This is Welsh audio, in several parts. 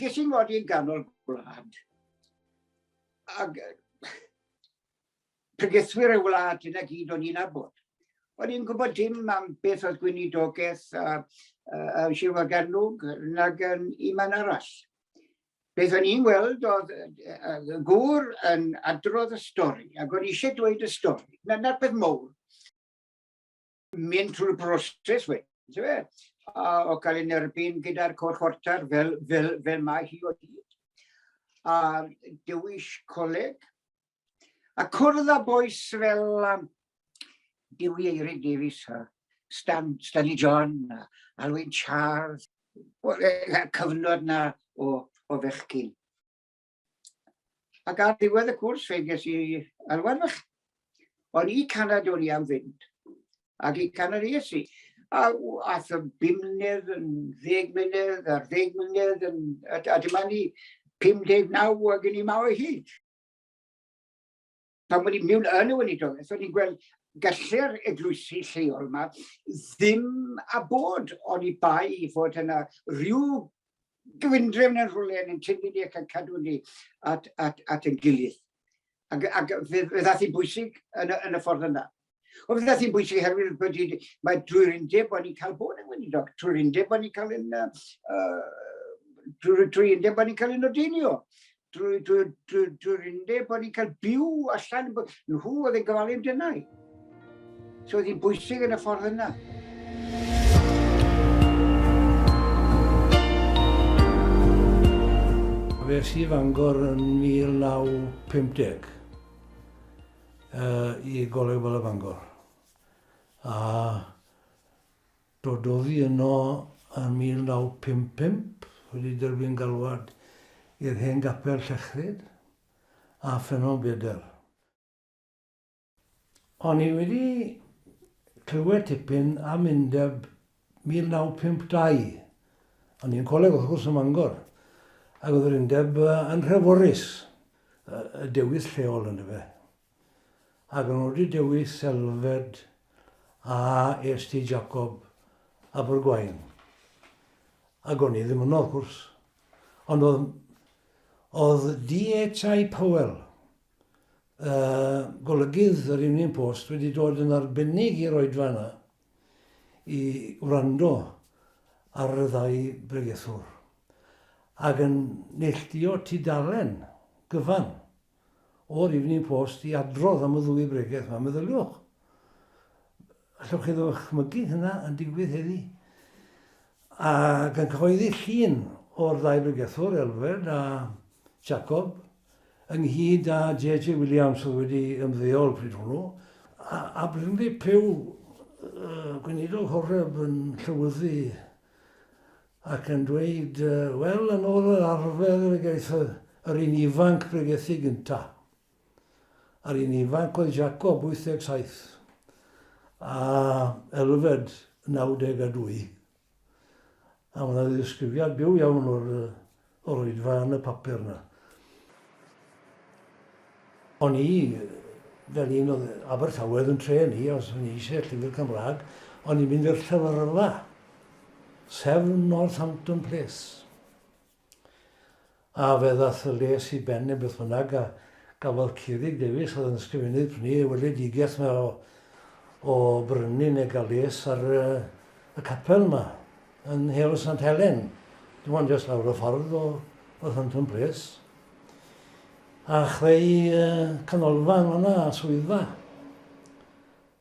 Ges i'n ngodi yn ganol gwlad. Ac pregethwyr y wlad yna gyd o'n i'n abod. O'n i'n gwybod dim am beth oedd gwynidogaeth a, a, a Sir Waganwg nag yn un man arall. Beth o'n i'n weld oedd y gŵr yn adrodd y stori ac o'n eisiau dweud y stori. Na'r peth mowr. mynd trwy'r broses wedyn, ti'n fe? A o cael ei nerbyn gyda'r cwr chwarter fel, fel, fel mae hi o hyd. A dewis coleg. A cwrdd â boes fel um, Dewi Eirig Davies, a Stan, Stanley John, a Alwyn Charles, o'r e, cyfnod na o, o fechgyn. Ac ar ddiwedd y cwrs fe ges i alwad fach. O'n i canad o'n i am fynd. Ac i canad es i. A ath y bum mlynedd yn ddeg mlynedd a'r ddeg mlynedd yn... A, a dyma ni 59 ac yn i ma o hyd. pan o'n i'n mynd yn y weinidogaeth, o'n i'n gweld gallu'r eglwysi lleol yma ddim a bod o'n i bai i fod yna rhyw gyfundrefn yn rhywle yn ein tynu ni ac yn cadw ni at, at, at yn gilydd. Ac, ac fe, fe ddath i'n bwysig yn y, yn y ffordd yna. Wel, beth sy'n bwysig herwydd bod wedi, mae drwy'r undeb bod ni'n cael bod yn weinidog, drwy'r undeb bod ni'n cael yn, uh, drwy'r drwy undeb bod ni'n cael yn odenio, drwy'r drwy, drwy, drwy undeb bod ni'n cael byw allan, nhw oedd yn gofalu amdanau. So oedd hi'n bwysig yn y ffordd yna. Fe si fangor yn 1950. i Goleg Bala Bangor a dod oddi yno yn 1955 wedi derbyn galwad i'r hen gapel Llechryd a Ffynnon Bedr. O'n i wedi clywed tipyn am undeb 1952. O'n i'n coleg wrth gwrs ym Mangor, ac oedd yr undeb yn rheforus y dewis lleol yn dyfe. Ac o'n nhw wedi dewis Selfed a est i Jacob Abergwaun. Ac o'n i ddim yno wrth gwrs. Ond oedd, oedd DHI Powell, uh, golygydd yr Union Post, wedi dod yn arbennig i'r oedfa yna, i wrando ar y ddau bregethwr ac yn neilltuo tudalen gyfan o'r Evening Post i adrodd am y ddwy bregeth yma. Meddyliwch, allwch chi ddychmygu hynna yn digwydd heddi? Ac yn cyhoeddi llun o'r ddau bregethwr, Elfed a Jacob, ynghyd â JJ Williams oedd wedi ymddeol pryd hwnnw, a, a Brinley Pugh, uh, gweinidog Horeb yn llywyddu ac yn dweud, uh, wel, yn ôl yr arfer y gaeth yr un ifanc bregethu gyntaf. A'r un ifanc oedd Jacob, 87, a Elfed, 92. A mae 'na ddisgrifiad byw iawn o'r o'r oedfa yn y papur yna. O'n i, fel un oedd Abertawe oedd yn tren i, os o'n i eisiau llyfr Cymraeg, o'n i'n mynd i'r llyfrfa, sef Northampton Place. A fe ddaeth y lles i ben neu beth bynnag a gafodd Ceurig Davies oedd yn ysgrifennydd prynu ei weledigaeth yma o o brynu neu gael les ar y y capel yma yn Heol Sant Helen. Dim ond jyst lawr y ffordd o o Thunton Place. A chreu uh, canolfa yn fanna, swyddfa.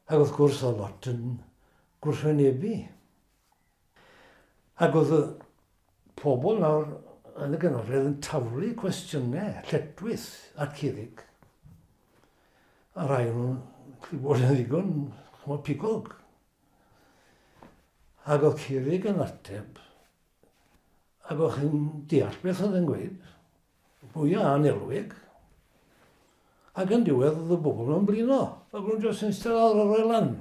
Ac wrth gwrs oedd lot yn gwrthwynebu. Ac oedd y pobl nawr yn y Ganolfan yn taflu cwestiynau lletwith at Curig. A rhai o'n nhw'n gallu bod yn ddigon, chymod, pigog. Ac oedd Curig yn ateb, ac oedd chi'n deall beth oedd yn gweud, bwya a'n elwig, ac yn diwedd oedd y bobl yn blino, ac o'n nhw'n jyst yn eistedd lawr ar y lan.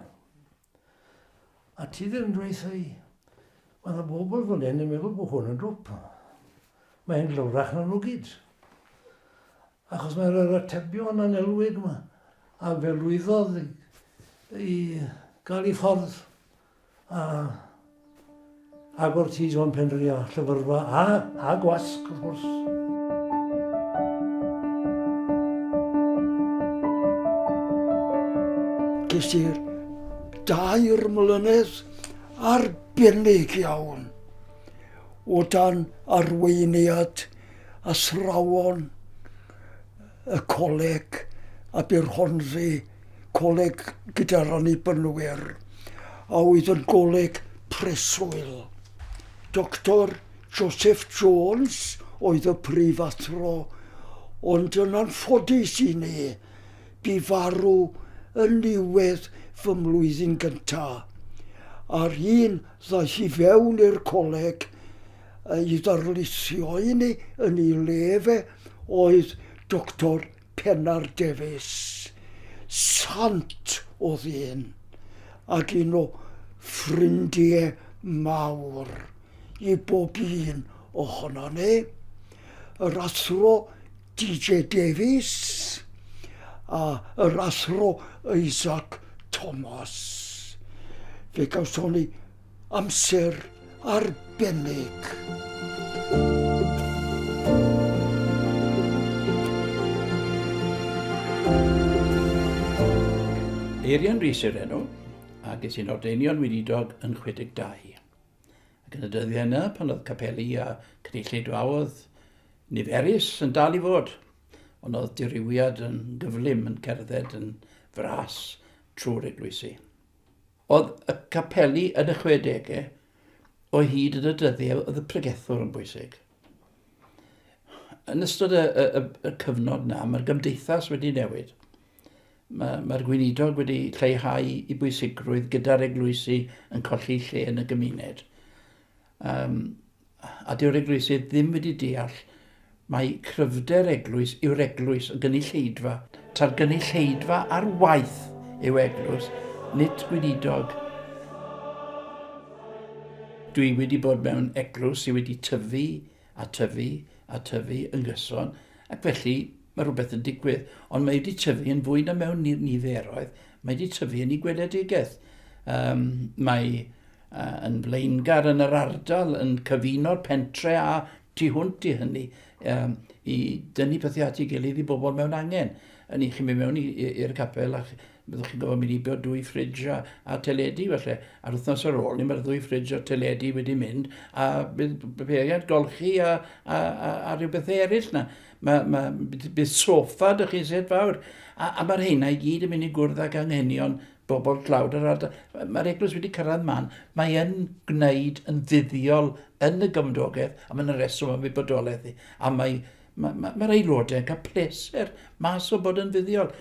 A ti ddim yn dweutha i? Mae yna bobl fan hyn yn meddwl bod hwn yn dwp. Mae hyn glywrach na nhw gyd. Achos mae'r yr atebion anelwig yma, a fe lwyddodd i gael ei ffordd a Ac wrth i John penderfynu ar Llyfrfa a, a gwasg, wrth gwrs. Ges i'r dair mlynedd arbennig iawn o dan arweiniad athrawon y coleg a bu'r Hornsey Coleg gyda'r Annibynwyr, a oedd yn goleg preswyl. Doctor Joseph Jones oedd y prif athro, ond yn anffodus i ni, bu farw yn niwedd fy mlwyddyn gyntaf. A'r un ddaeth i fewn i'r coleg Ei ddarlithio inni yn ei le fe oedd Doctor Pennar Davies. Sant oedd un, ac un o ffrindie mawr i bob un ohonon ni. Yr Athro DJ Davies a yr Athro Isaac Thomas. Fe gawson ni Amser arbennig. Eirian Rhys yw'r enw, ac es i'n ordeinion weinidog yn 62. Ac yn y dyddiau yna, pan oedd capeli a cynulleidfaoedd niferus yn dal i fod, ond oedd dirywiad yn gyflym yn cerdded yn fras trwy'r eglwysi. Oedd y capeli yn y chwedegau, o hyd yn y dyddiau, oedd y pregethwr yn bwysig. Yn ystod y, y, y, y cyfnod yna, mae'r gymdeithas wedi newid. Mae'r mae gweinidog wedi lleihau i bwysigrwydd gyda'r eglwysi yn colli lle yn y gymuned. Yym, a dyw'r eglwysydd ddim wedi deall mai cryfder eglwys yw'r eglwys, y gynulleidfa. Ta'r gynulleidfa ar waith yw eglwys, nid gweinidog. Dwi wedi bod mewn eglwys sydd wedi tyfu a tyfu, a tyfu yn gyson, ac felly mae rhywbeth yn digwydd, ond mae wedi tyfu yn fwy na mewn niferoedd, mae wedi tyfu yn ei gweledigaeth. Um, mae uh, yn flaengar yn yr ardal yn cyfuno'r pentre a tu hwnt i hynny um, i dynnu pethau at ei gilydd i bobl mewn angen. Yn i chi'n mynd mewn i'r capel a Byddwch chi'n gorfod mynd i bod dwy ffridj a, a teledu felly. A'r wythnos ar ôl ni mae'r ddwy ffridj a teledu wedi mynd a bydd peiriant golchi a, a, a, a rhyw bethau eraill na. Mae, mae, bydd sofa dych chi'n set fawr. A, a mae'r heina i gyd yn mynd i gwrdd ag anghenion bobl tlawd yr ardal. Mae'r eglwys wedi cyrraedd man. Mae yn gwneud yn fuddiol yn y gymdogaeth a mae'n reswm am wybodolaeth i. A mae, mae, mae, mae'r aelodau yn cael pleser mas o bod yn fuddiol.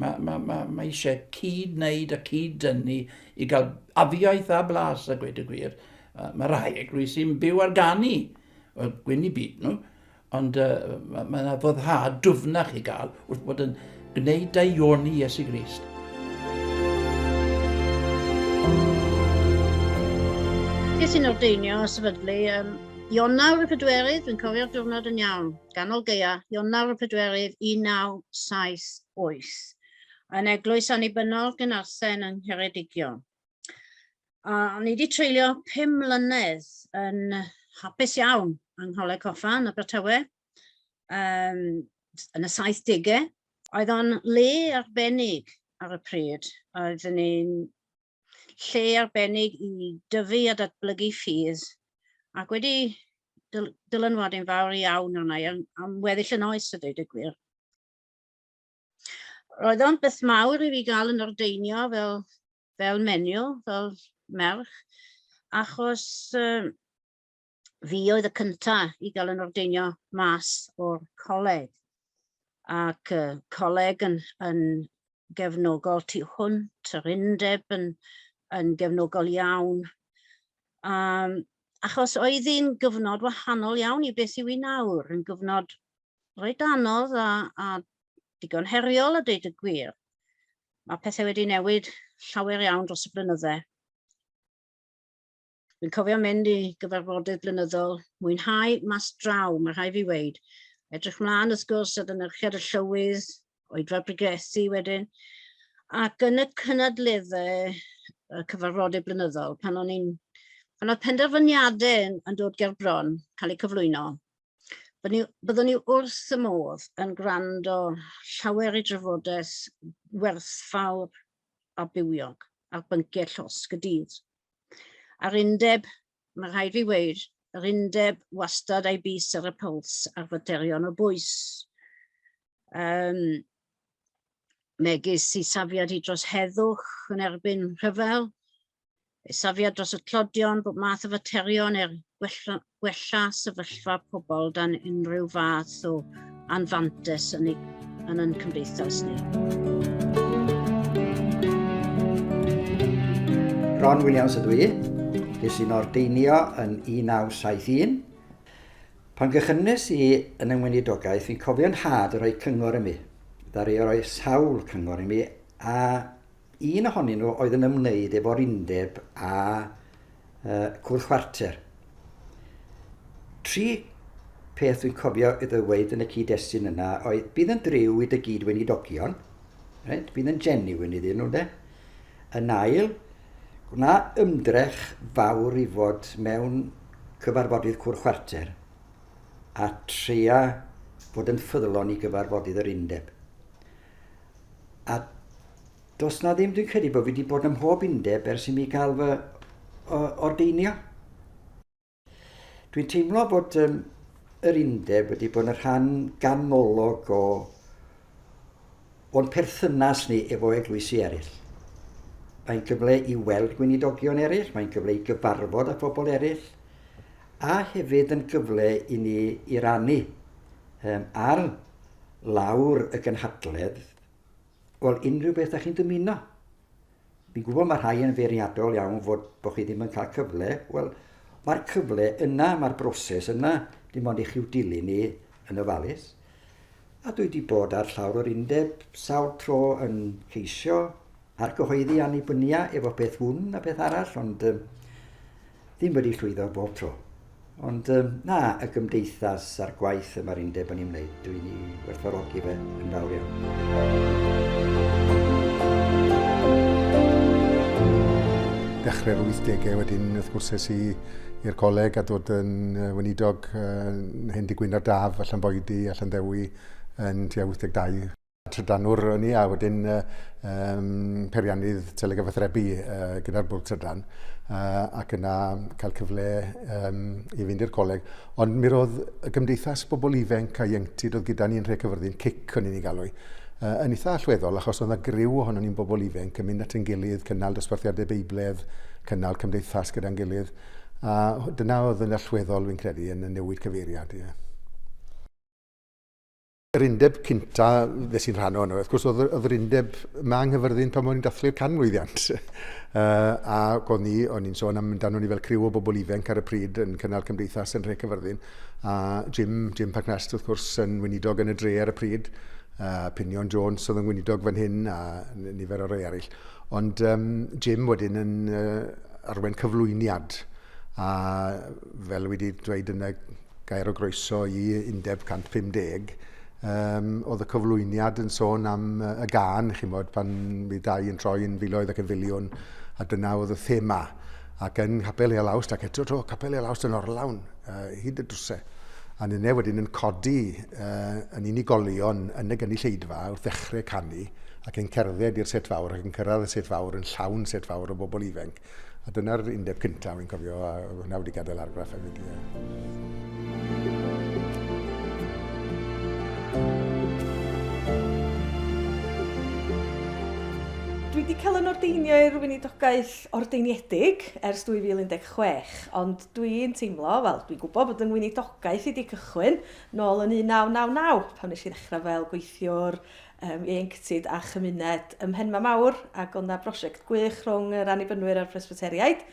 Mae, mae, mae, mae eisiau cyd-wneud a cyd-dynnu i gael afiaeth a blas a gweud y gwir. Uh, mae rhai eglwys sy'n byw ar ganu, wel, gwyn i byd nhw, ond uh, mae yna ma foddhad dwfnach i gael wrth bod yn gwneud daioni Iesu Grist. Ges i'n ordeinio a sefydlu um, Ionawr y pedwerydd, dwi'n cofio'r diwrnod yn iawn. Ganol Gaeaf, Ionawr y Pedwerydd 1978, yn Eglwys Annibynnol Gynarthen yng Ngheredigion. A ni wedi treulio pum mlynedd yn hapus iawn yng Ngholeg Coffa yn Abertawe, um, yn y 70au. Oedd o'n le arbennig ar y pryd. Oeddwn ni'n lle arbennig i dyfu a datblygu ffydd ac wedi dyl dylanwad yn fawr iawn arna i am, am weddill yn oes y dweud y gwir. Roedd o'n beth mawr i fi gael yn ordeinio fel, fel menyw, fel merch, achos um, fi oedd y cynta i gael yn ordeinio mas o'r coleg. Ac y coleg yn, yn gefnogol tu hwnt, yr undeb yn, yn gefnogol iawn. Um, achos oedd hi'n gyfnod wahanol iawn i beth yw i nawr, yn gyfnod rhaid anodd a, a digon heriol a dweud y gwir. Mae pethau wedi newid llawer iawn dros y blynydde. Dwi'n cofio mynd i gyfarfodydd blynyddol, mwynhau mas draw, mae rhai fi weid. Edrych mlaen wrth gwrs at ynychiad y llywydd, oedfa brigethu wedyn, ac yn y cynadleddau y cyfarfodydd blynyddol, pan o'n i'n pan oedd penderfyniadau yn, yn dod ger bron, cael eu cyflwyno, byddwn ni wrth y modd yn gwrando llawer i drafodaeth werthfawr a bywiog ar bynciau llosg y dydd. A'r undeb, mae rhaid fi weid, yr undeb wastad a'i bus ar y puls ar faterion o bwys. Um, megis i safiad i dros heddwch yn erbyn rhyfel, safiad dros y tlodion, bod math o faterion er gwella, gwella sefyllfa pobl dan unrhyw fath o anfantes yn, ei, yn ein cymdeithas ni. Ron Williams ydw i. Ges i'n ordeinio yn 1971. Pan gychynnes i yn yng Ngweinidogaeth, fi'n cofio'n had yn rhoi cyngor i mi. Ddari o roi sawl cyngor i mi, a Un ohonyn nhw oedd yn ymwneud efo'r undeb a cwrdd chwarter. Tri peth dwi'n cofio i ddyweyd yn y cyd-destun yna oedd bydd yn driw i dy gyd weinidogion, right? bydd yn genuine iddyn nhw, de? Yn ail, gwna ymdrech fawr i fod mewn cyfarfodydd cwrdd chwarter a tria bod yn ffyddlon i gyfarfodydd yr undeb. A does na ddim, dwi'n credu bod fi wedi bod ym mhob undeb ers i mi gael fy ordeinio. Dwi'n teimlo bod um, yr undeb wedi bod yn rhan ganolog o o'n perthynas ni efo eglwysi eraill. Mae'n gyfle i weld gweinidogion eraill, mae'n gyfle i gyfarfod â phobl eraill, a hefyd yn gyfle i ni i rannu um, ar lawr y gynhadledd, wel, unrhyw beth da chi'n dymuno. Fi'n gwybod mae rhai yn feirniadol iawn fod bod chi ddim yn cael cyfle, wel, mae'r cyfle yna, mae'r broses yna, dim ond i chi'w dilyn ni yn ofalus. A dwi wedi bod ar llawr yr undeb sawl tro yn ceisio Ar gyhoeddi annibynia efo peth hwn a peth arall, ond um, ddim wedi llwyddo bob tro. Ond um, na, y gymdeithas a'r gwaith y mae'r undeb yn ei wneud, dwi'n ei werthfawrogi fe yn fawr iawn. dechrau'r 80au wedyn wrth gwrs es i i'r coleg a dod yn uh, weinidog uh, hen digwyn ar daf allan boedi allan ddewi yn tua 82. trydanwr o'n i a wedyn uh, um, periannydd telegyfathrebu uh, gyda'r bwrdd trydan uh, ac yna cael cyfle um, i fynd i'r coleg. Ond mi roedd y gymdeithas bobl ifenc a ieunctid oedd gyda ni'n rhai cyfyrddin, cic o'n i'n ei galw i, uh, yn eitha allweddol achos oedd yna griw ohono ni'n bobl ifenc yn mynd at yn gilydd, cynnal dosbarthiadau beibledd, cynnal cymdeithas gyda'n gilydd. A dyna oedd yn allweddol fi'n credu yn y newid cyfeiriad. Yeah. yr undeb cynta fe sy'n rhan o'n, wrth gwrs, oedd yr undeb ma yng Nghyfyrddin pan o'n i'n dathlu'r canmlwyddiant. uh, a o'n ni, o'n i'n sôn am amdano ni fel criw o bobl ifanc ar y pryd yn cynnal cymdeithas yn rhe Cyfyrddin. A Jim, Jim Pagnast, wrth gwrs, yn weinidog yn y dre ar y pryd. Uh, Pinion Jones oedd yn weinidog fan hyn a nifer o rei arall. Ond um, Jim wedyn yn uh, arwen cyflwyniad a fel wedi dweud yn y gair o groeso i Undeb 150. Um, oedd y cyflwyniad yn sôn am uh, y gân, chi'n bod, pan fi dau yn troi yn filoedd ac yn filiwn, a dyna oedd y thema. Ac yn Capel Eol Awst, ac eto to, Capel Eol Awst yn orlawn, uh, hyd y drwse. A nynne wedyn yn codi uh, yn unigolion yn y gynulleidfa wrth ddechrau canu, ac yn cerdded i'r set fawr ac yn cyrraedd y set fawr yn llawn set fawr o bobl ifenc. A dyna'r undeb cyntaf, fi'n cofio, a hwnna wedi gadael argraff hefyd, ie. Dwi wedi cael yn ordeinio i'r weinidogaeth ordeiniedig ers 2016, ond dwi'n teimlo, wel, dwi'n gwybod bod yng ngweinidogaeth i wedi cychwyn nôl yn 1999, pan nes i ddechrau fel gweithiwr yym ieuenctid a chymuned ym Mhenma Mawr ac o'dd 'na brosiect gwych rhwng yr Annibynwyr a'r Presbyteriaid.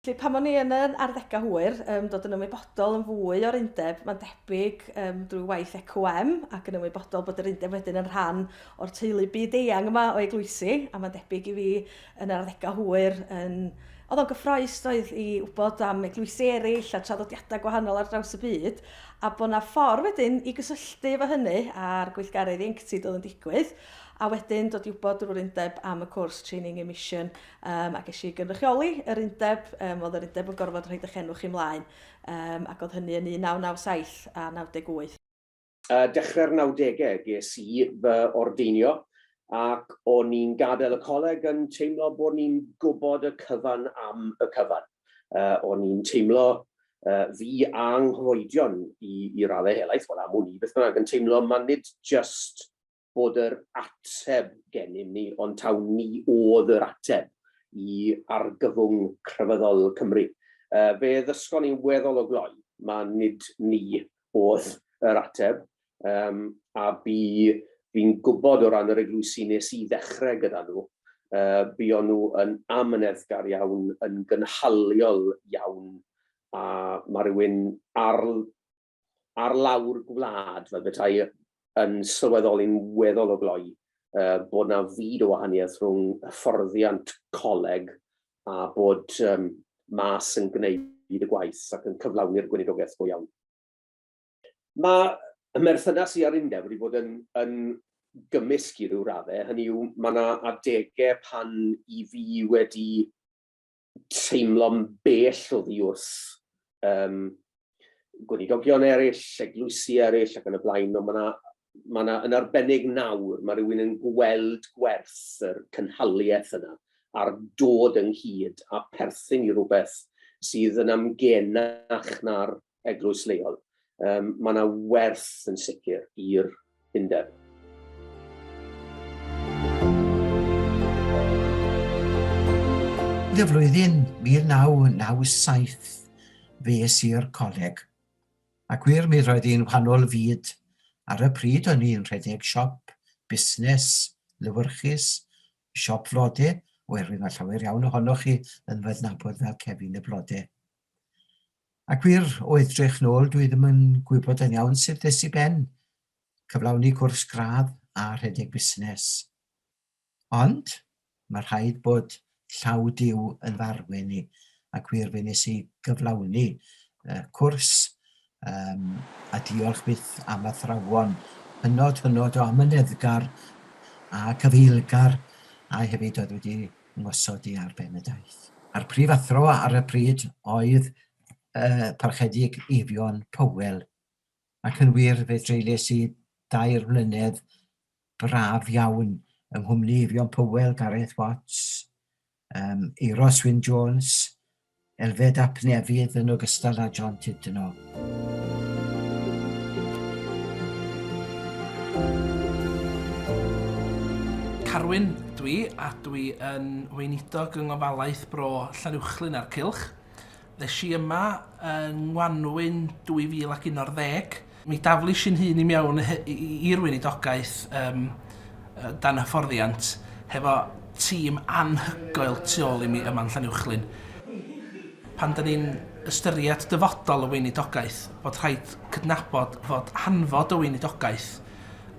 Felly pan o'n i yn yn arddega hwyr yym dod yn ymwybodol yn fwy o'r undeb ma'n debyg yym drwy waith ECWM ac yn ymwybodol bod yr undeb wedyn yn rhan o'r teulu byd-eang yma o eglwysi a ma'n debyg i fi Yn yr arddegau hwyr, yn... oedd o'n gyffrous, doedd, i wybod am eglwysi eraill a traddodiadau gwahanol ar draws y byd, a bod 'na ffordd wedyn i gysylltu efo hynny a'r gweithgaredd ieuenctid oedd yn digwydd, a wedyn dod i wybod drwy'r undeb am y cwrs Training in Mission, yym, a ges i gynrychioli yr undeb, yym, oedd yr undeb yn gorfod rhoid eich enw chi mlaen, yym, ac oedd hynny yn 1997 a 98. uh, dechrau'r 90au ges i fy ordeinio ac o'n i'n gadael y coleg yn teimlo bod ni'n gwybod y cyfan am y cyfan. Uh, o'n i'n teimlo uh, fi a nghyfoedion i, i raddau helaeth, wel am wn i beth bynnag yn teimlo man nid just bod yr ateb gennym ni, ond taw ni oedd yr ateb i argyfwng crefyddol Cymru. Fe ddysgon ni weddol o gloi ma' nid ni oedd yr ateb, a bu fi'n gwybod o ran yr eglwysi nes i ddechrau gyda nhw, buon nhw yn amyneddgar iawn, yn gynhaliol iawn, a ma' rhywun ar ar lawr gwlad fel beta'i yn sylweddoli'n weddol o gloi uh, bod na fyd o wahaniaeth rhwng hyfforddiant coleg a bod um, mas yn gwneud y gwaith ac yn cyflawni'r gweinidogaeth go iawn. Mae y merthynas i ar undeb wedi bod yn, yn gymysg i ryw raddau, hynny yw, mae yna adegau pan i fi wedi teimlo'n bell o ddi wrth um, gwenidogion eraill, eglwysi eraill ac yn y blaen, ond mae yna mae yna yn arbennig nawr, mae rhywun yn gweld gwerth yr cynhaliaeth yna a'r dod ynghyd a perthyn i rhywbeth sydd yn amgenach na'r eglwys leol, um, mae yna werth yn sicr i'r undeb. Y flwyddyn 1997 fe es i'r coleg, a gwir mi roedd hi'n wahanol fyd. Ar y pryd o'n i'n rhedeg siop, busnes, lywyrchus, siop flode, oherwydd mae llawer iawn ohonoch chi yn fy fel Kevin y Blode. A gwir, o edrych nôl dwi ddim yn gwybod yn iawn sut ddes i ben cyflawni cwrs gradd a rhedeg busnes. Ond, mae rhaid bod llaw Duw yn farwyn i, a gwir fe nes i gyflawni y cwrs um, a diolch byth am athrawon hynod hynod o amyneddgar a cyfeilgar a hefyd oedd wedi ymosodi ar Benedaidd. A'r prifathro ar y pryd oedd y Parchedig Eifion Powell, ac yn wir fe dreulies i dair mlynedd braf iawn yng nghwmni Eifion Powell, Gareth Watts, um, Eero Swyn Jones, Elfed ap Nefydd yn ogystal â John Tudno. Carwyn ydw i a dwi yn Weinidog yng Ngofalaeth Bro Llanuwchllyn a'r Cylch. Ddes i yma yng Ngwanwyn 2011 Mi daflis i'n hun i mewn i'r weinidogaeth yym dan hyfforddiant hefo tîm anhygoel tu ôl i mi yma yn Llanuwchllyn. Pan 'dan ni'n ystyried dyfodol y weinidogaeth bod rhaid cydnabod fod hanfod y weinidogaeth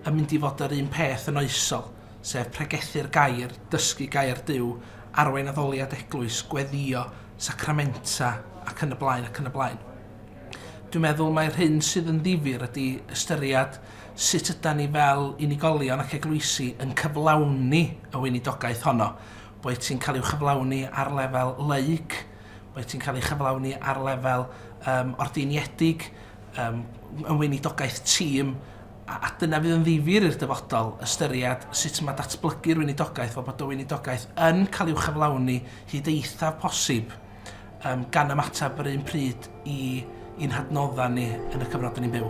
yn mynd i fod yr un peth yn oesol, sef pregethu'r gair, dysgu gair Duw, arwain addoliad eglwys, gweddïo, sacramenta ac yn y blaen ac yn y blaen. Dwi'n meddwl mai'r hyn sydd yn ddifyr ydy ystyried sut ydan ni fel unigolion ac eglwysi yn cyflawni y weinidogaeth honno. Boed ti'n cael ei chyflawni ar lefel laig, boed ti'n cael ei chyflawni ar lefel um, ordiniedig, um, yn weinidogaeth tîm, a, a dyna fydd yn ddifyr i'r dyfodol, ystyried sut mae datblygu'r weinidogaeth, fel bod y weinidogaeth yn cael ei chyflawni hyd eithaf posib um, gan ymateb yr un pryd i i'n hadnoddau ni yn y cyfnod ni'n byw.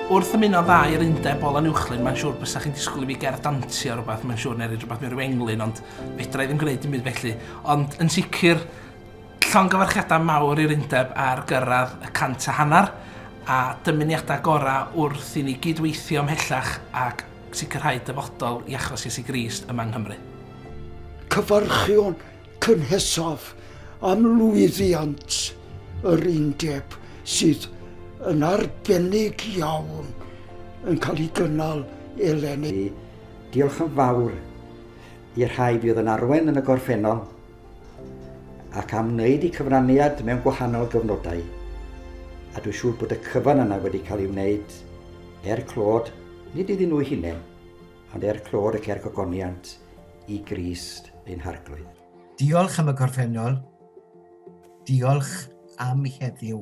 Wrth ymuno dda i'r undeb ol anuwchlyn, mae'n siŵr bysach chi'n disgwyl i fi gerdd dantio rhywbeth, mae'n siŵr, neu rhywbeth mewn rhyw englyn, ond fedra i ddim gwneud dim byd felly. Ond yn sicr, Llongyfarchiadau mawr i'r Undeb ar gyrraedd y cant a hanner, a dymuniadau gorau wrth i ni gyd-weithio ymhellach ac sicrhau dyfodol i achos Iesu Grist yma yng Nghymru. Cyfarchion cynhesaf am lwyddiant yr Undeb sydd yn arbennig iawn yn cael ei gynnal eleni. Diolch yn fawr i'r rhai fuodd yn arwain yn y gorffennol, ac am wneud y cyfraniad mewn gwahanol gyfnodau, a dwi'n siŵr bod y cyfan yna wedi cael ei wneud er clod, nid iddyn nhw'u hunain, ond er clod ac er gogoniant i Grist ein Harglwydd. Diolch am y gorffennol, diolch am heddiw,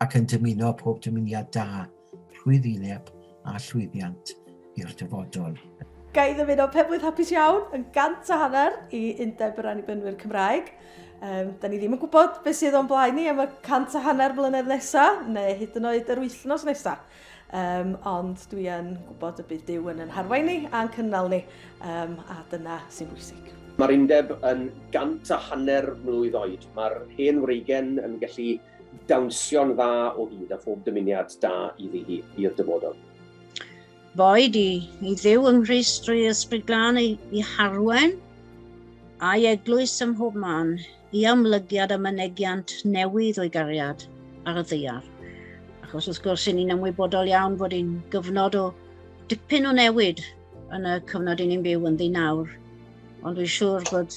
ac yn dymuno pob dymuniad da. rhwyddileb a llwyddiant i'r dyfodol. Ga i ddymuno Penblwydd Hapus Iawn yn gant a hanner i Undeb yr Annibynwyr Cymraeg. Um, da ni ddim yn gwybod beth sydd o'n blaen ni am y cant a hanner mlynedd nesaf, neu hyd yn oed yr wythnos nesaf. Um, ond dwi yn gwybod y bydd Dyw yn yn harwain ni a'n cynnal ni, um, a dyna sy'n bwysig. Mae'r undeb yn gant a hanner mlwydd oed. Mae'r hen wreigen yn gallu dawnsio'n dda o hyd a phob dymuniad da iddi hi i'r dyfodol. Boed i, i ddew yng Nghrist drwy ysbryd glân ei, i harwen, a'i eglwys ym mhob man, i amlygiad a mynegiant newydd o'i gariad ar y ddeiar. Achos wrth gwrs, i ni'n ymwybodol iawn bod hi'n gyfnod o dipyn o newid yn y cyfnod i ni'n byw yn ddi nawr. Ond dwi'n siŵr bod